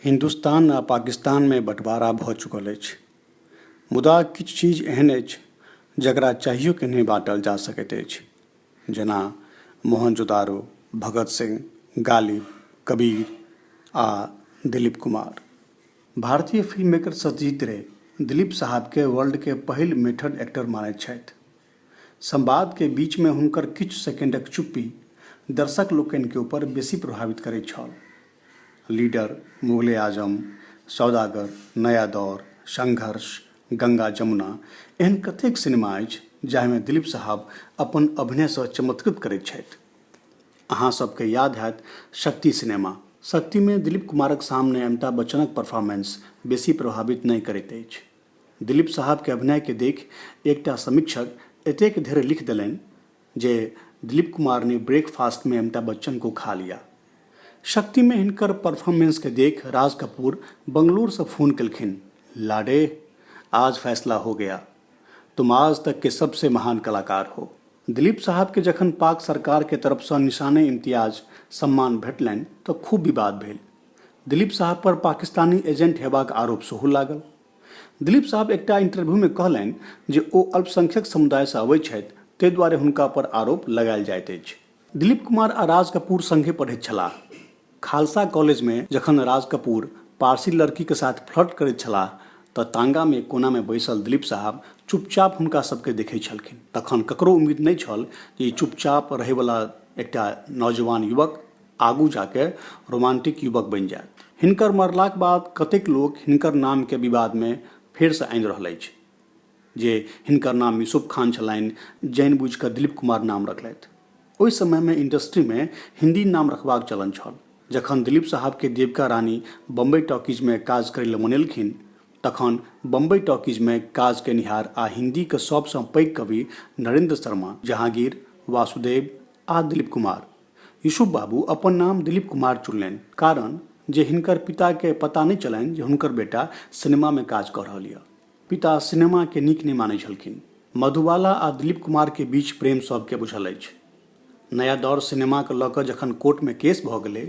हिन्दुस्तान आ पाकिस्तानमे बँटवारा भऽ चुकल अछि मुदा किछु चीज एहन अछि जकरा चाहियो कऽ नहि बाँटल जा सकैत अछि जेना मोहनजोदारो भगत सिंह गालिब कबीर आ दिलीप कुमार भारतीय फिल्म मेकर सत्यजीत रे दिलीप साहबकेँ वर्ल्डके पहिल मेथड एक्टर मानैत छथि संवाद के बीच मे हुनकर किछु सेकेंडक चुप्पी दर्शक लोकनि के ऊपर बेसी प्रभावित करैत छल। लीडर, मुगल-ए-आजम, सौदागर, नया दौर, संघर्ष, गंगा जमुना एहन कतेक सिनेमा अछि जाहि मे दिलीप साहब अपन अभिनय सँ चमत्कृत करैत छथि। अहाँ सब के याद हएत शक्ति सिनेमा। शक्ति मे दिलीप कुमारक सामने अमिताभ बच्चनक परफार्मेंस बेसी प्रभावित नहि करैत अछि। दिलीप साहब के अभिनय के देखि एकटा समीक्षक एतेक धेर लिखि देलनि जे दिलीप कुमार ने ब्रेक फास्ट में अमिताभ बच्चन को खा लिया। शक्ति में हिनकर परफार्मेंस के देखि राज कपूर बंगलूर सँ फोन केलखिन, लाडे, आज फैसला हो गया। तुम आज तक के सबसे महान कलाकार हो। दिलीप साहब के जखन पाक सरकार के तरफ सँ निशाने-इम्तियाज सम्मान भेटलनि त खूब विवाद भेल। दिलीप साहब पर पाकिस्तानी एजेंट हेबाक आरोप सेहो लागल दिलीप साहब एकटा इंटरव्यू में कहलनि जे ओ अल्पसंख्यक समुदाय से अबै छथि ताहि दुआरे हुनका पर आरोप लगायल जाइत अछि दिलीप कुमार आ राज कपूर संगे पढ़ैत छलाह खालसा कॉलेज में जखन राज कपूर पारसी लड़की के साथ फ्लर्ट करैत छलाह तऽ तांगा में कोना में बैसल दिलीप साहब चुपचाप हुनका सबके देखै छलखिन तखन ककरो उम्मीद नहि छल जे ई चुपचाप रहैवला एकटा नौजवान युवक आगू जाके रोमांटिक युवक बनि जायत हिनकर मरलाक बाद कतेक लोक हिनकर नामके विवादमे फेरसँ आनि रहल अछि जे हिनकर नाम यूसुफ खान छलनि जानि बुझि कऽ दिलीप कुमार नाम रखलथि ओहि समयमे इंडस्ट्रीमे हिंदी नाम रखबाक चलन छल जखन दिलीप साहबके देविका रानी बम्बई टॉकीजमे काज करै लए मनेलखिन तखन बम्बई टॉकीजमे काज केनिहार आ हिन्दीके सभसँ पैघ कवि नरेंद्र शर्मा जहांगीर वासुदेव आ दिलीप कुमार युसुफ बाबू अपन नाम दिलीप कुमार चुनलनि कारण जे हिनकर पिता के पता नहि चलनि जे हुनकर बेटा सिनेमा में काज कऽ रहल यऽ। पिता सिनेमा के नीक नहि मानै छलखिन। मधुबाला आ दिलीप कुमार के बीच प्रेम सब के बुझल अछि। नया दौर सिनेमा के लऽ कऽ जखन कोर्ट में केस भऽ गेलै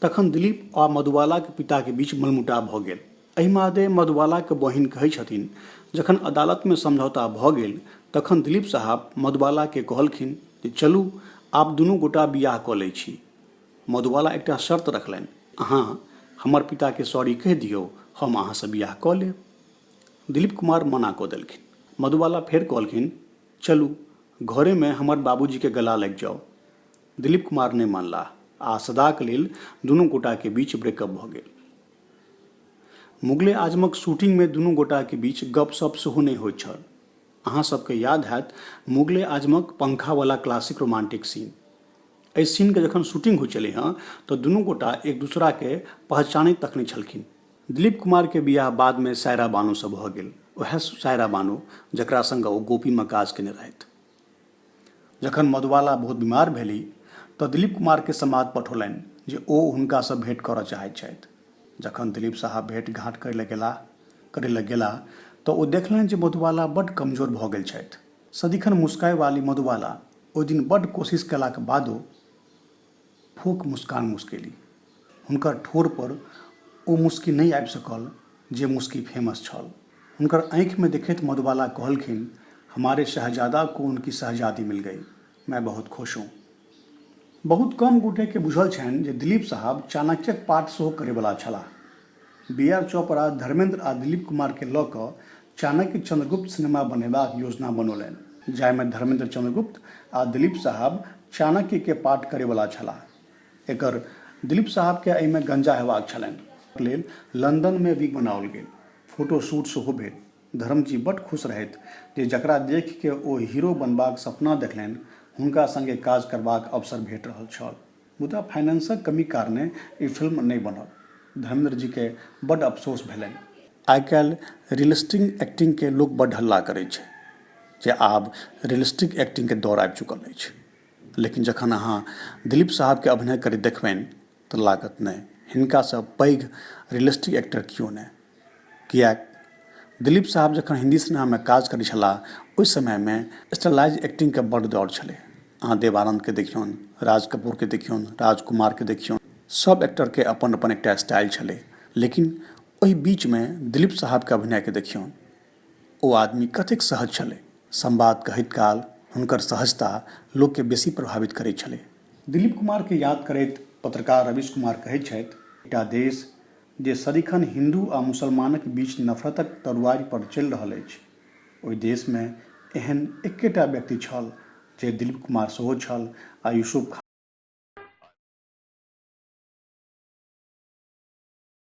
तखन दिलीप आ मधुबाला के पिता के बीच मनमुटाव भऽ गेल। एहि मादे मधुबालाकेँ बहिन कहै छथिन। जखन अदालतमे समझौता भऽ गेल तखन दिलीप साहब मधुबालाकेँ कहलखिन जे चलू आब दुनू गोटा बिआह कऽ लै छी। मधुबाला एकटा शर्त रखलनि, अहाँ हमर पिताकेँ सॉरी कहि दियौ, हम अहाँसँ बिआह कऽ लेब। दिलीप कुमार मना कऽ देलखिन। मधुबाला फेर कहलखिन, चलू, घरेमे हमर बाबूजीकेँ गला लागि जाउ। दिलीप कुमार नहि मानलाह आ सदाक लेल दुनू गोटाकेँ बीच ब्रेकअप भऽ गेल। मुगले-आजमक शूटिंगमे दुनू गोटाक बीच गप-सप्प सेहो नहि होइत छल। अहाँ सभकेँ याद हएत मुगले-आजमक पंखावला क्लासिक रोमांटिक सीन। एहि सीनक जखन शूटिंग होइत छलै हँ तँ दुनू गोटा एक दोसराकेँ पहचानैत तक नहि छलखिन। दिलीप कुमारक बियाह बादमे सायरा बानोसँ भऽ गेल। ओएह सायरा बानो जकरा संग ओ गोपीमे काज केने रहथि। जखन मधुबाला बहुत बीमार भेली तँ दिलीप कुमारकेँ संवाद पठौलनि जे ओ हुनकासँ भेंट करऽ चाहैत छथि। जखन दिलीप साहब भेंट-घाँट करै लए गेला तँ ओ देखलनि जे मधुबाला बड्ड कमजोर भऽ गेल छथि। सदिखन मुस्काइवाली मधुबाला ओइ दिन बड्ड कोशिश कएलाक बादो फोक मुस्कान मुस्केली। हुनकर ठोर पर ओ मुस्की नहि आबि सकल जे मुस्की फेमस छल। हुनकर आँखि मे देखैत मधुबाला कहलखिन, हमारे शहजादा को उनकी शहजादी मिल गई। मैं बहुत खुश हूँ। बहुत कम गोटे केँ बुझल छनि जे दिलीप साहब चाणक्यक पाठ सेहो करयबला छलाह। बी आर चोपड़ा धर्मेन्द्र आ दिलीप कुमार केँ लऽ कऽ चाणक्य चन्द्रगुप्त सिनेमा बनेबाक योजना बनौलनि। जाहि मे धर्मेन्द्र चन्द्रगुप्त आ दिलीप साहब चाणक्य केँ पार्ट करय वला छलाह। एकर दिलीप साहब केँ एहि मे गंजा हेबाक छलनि। एकर लेल लंदन मे विग बनाओल गेल। फोटो शूट सेहो भेल। धर्म जी बड्ड खुश रहथि जे जकरा देखि केँ ओ हीरो बनबाक सपना देखलनि हुनका संगे काज करबाक अवसर भेट रहल छल। मुदा फाइनेंसक कमीक कारणें ई फिल्म नहि बनल। धर्मेंद्र जी केँ बड्ड अफसोस भेलनि। आइकाल्हि रियलिस्टिक एक्टिंग केँ लोक बड्ड हल्ला करैत छै जे आब रियलिस्टिक एक्टिंग केँ दौर आबि चुकल अछि। लेकिन जखन अहाँ दिलीप साहब केँ अभिनय करैत देखबनि तँ लागत नहि, हिनका सँ पैघ रियलिस्टिक एक्टर कियो नहि। किएक दिलीप साहब जखन हिन्दी सिनेमामे काज करै छलाह ओहि समयमे स्टाइलाइज्ड एक्टिंगके बड्ड दौर छलै अहाँ देव आनन्दके देखियौन राज कपूरके देखियौन राज कुमारके देखियौन सभ एक्टरके अपन अपन एकटा स्टाइल छलै लेकिन ओहि बीचमे दिलीप साहबके अभिनयके देखियौन ओ आदमी कतेक सहज छलै संवाद कहैत काल हुनकर सहजता लोकके बेसी प्रभावित करै छलै दिलीप कुमारके याद करैत पत्रकार रवीश कुमार कहै छथि एकटा देश जे सदिखन हिन्दू आ मुसलमानक बीच नफरतक तरुआरि पर चलि रहल अछि। ओहि देश मे एहन एके टा व्यक्ति छल जे दिलीप कुमार सेहो छल आ यूसुफ खान।